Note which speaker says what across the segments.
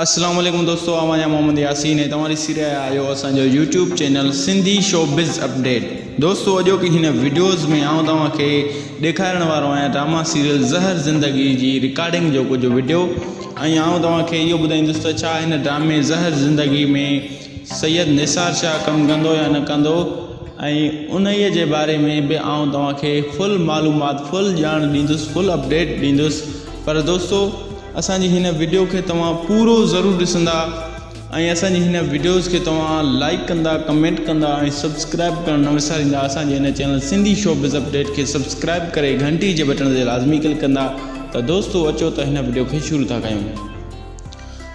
Speaker 1: اسلام عليڪم دوستو آ وڃا محمد ياسين ۽ توهان ڏسي رهيا آهيو اسان جو YouTube channel Sindhi showbiz update دوستو اڄو ڪي هن ويڊيوز ۾ آئون توهان کي ڏيکارڻ وارو آهيان ڊراما سيريل زهر زندگي جي رڪارڊنگ جو ڪجهه ويڊيو ۽ آئون توهان کي اهو ٻڌائيندس ته ڇا هن ڊرامي زهر زندگي ۾ سيد نثار شاهه ڪم ڪندو يا نه ڪندو ۽ انهيء جي باري ۾ به آئون توهان کي فل معلومات فل ڄاڻ ڏيندس فل اپڊيٽ ڏيندس پر دوستو اسان جي هن ويڊيو کي توهان پورو ضرور ڏسندا ۽ اسان جي هن ويڊيوز کي توهان لائڪ ڪندا ڪمينٽ ڪندا ۽ سبسڪرائب ڪرڻ نه وساريندا اسان جي هن channel Sindhi showbiz update کي سبسڪرائب ڪري گھنٽي جي بٽڻ تي لازمي ڪلڪ ڪندا ته دوستو اچو ته هن ويڊيو کي شروع ٿا ڪيون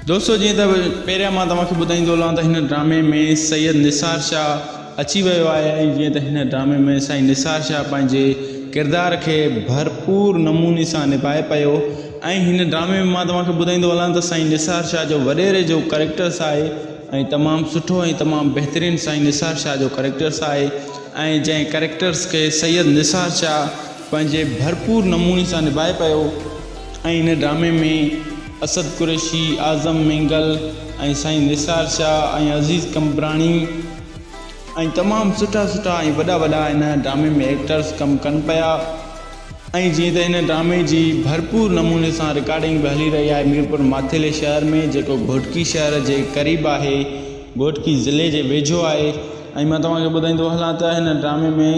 Speaker 1: دوستو جيئن ته پهريان مان توهان کي ٻڌائيندو هلان ته هن ڊرامي ۾ سيد نثار شاهه اچي ويو آهي ۽ جيئن ته هن ڊرامي ۾ سائين نثار شاهه پنهنجي ڪردار کي ڀرپور نموني سان نڀائي پيو ۽ هن ڊرامي ۾ مان توهان کي ٻڌائيندو هلان ته سائين نثار شاهه جو وڏيري جو ڪريڪٽرس آهي ۽ تمام سٺو ۽ تمام بهترين سائين نثار شاهه جو ڪريڪٽرس آهي ۽ جنهن ڪريڪٽرس کي سيد نثار شاهه پنهنجي ڀرپور نموني سان نڀائي پيو ۽ هن ڊرامي ۾ اسد قريشي، اعظم مينگل ۽ سائين نثار شاهه ۽ عزيز قمبراڻي ۽ تمام سٺا سٺا ۽ وڏا وڏا ان ڊرامي ۾ ايڪٽرز ڪم ڪن پيا ۽ جيئن ته ان ڊرامي جي ڀرپور نموني سان رڪارڊنگ به هلي رهي آهي ميرپور ماٿيلي شهر ۾ جيڪو گهوٽڪي شهر جي قريب آهي گهوٽڪي ضلعي جي ويجهو آهي ۽ مان توهان کي ٻڌائيندو هلان ته هن ڊرامي ۾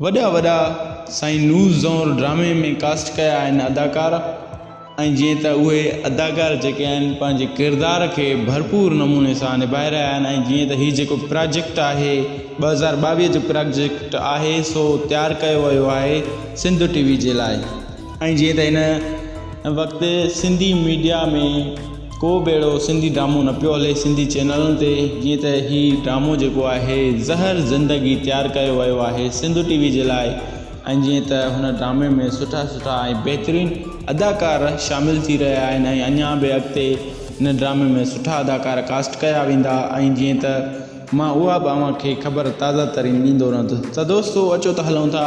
Speaker 1: وڏا وڏا سائين نور زئور ڊرامي ۾ ڪاسٽ ڪيا آهن اداڪار ۽ جيئن ته اهي اداڪار جيڪي آهن پنهنجي ڪردار کي ڀرپور نموني سان نڀائي رهيا آهن ۽ جيئن ته هي جيڪو پراجيڪٽ آهي ٻه هزار ٻاويهه جو پراجيڪٽ آهي سو تيار ڪيو ويو آهي سنڌ ٽي وي جي لاء ۽ جيئن ته هن وقت سنڌي ميڊيا ۾ ڪو به اهڙو سنڌي ڊرامو نه پيو هلي سنڌي چينلن تي جيئن ته هي ڊرامو جيڪو آهي زهر زندگي تيار ڪيو ويو آهي سنڌو ٽي وي جي لاء ۽ جيئن ته هن ڊرامي ۾ سٺا سٺا ۽ بهترين اداڪار شامل ٿي رهيا آهن ۽ اڃا به اڳتي هن ڊرامي ۾ سٺا اداڪار ڪاسٽ ڪيا ويندا ۽ جيئن ته مان اها به اوهان کي خبر تازه ترين ڏيندو رهندس ته دوستو اچو ته هلون ٿا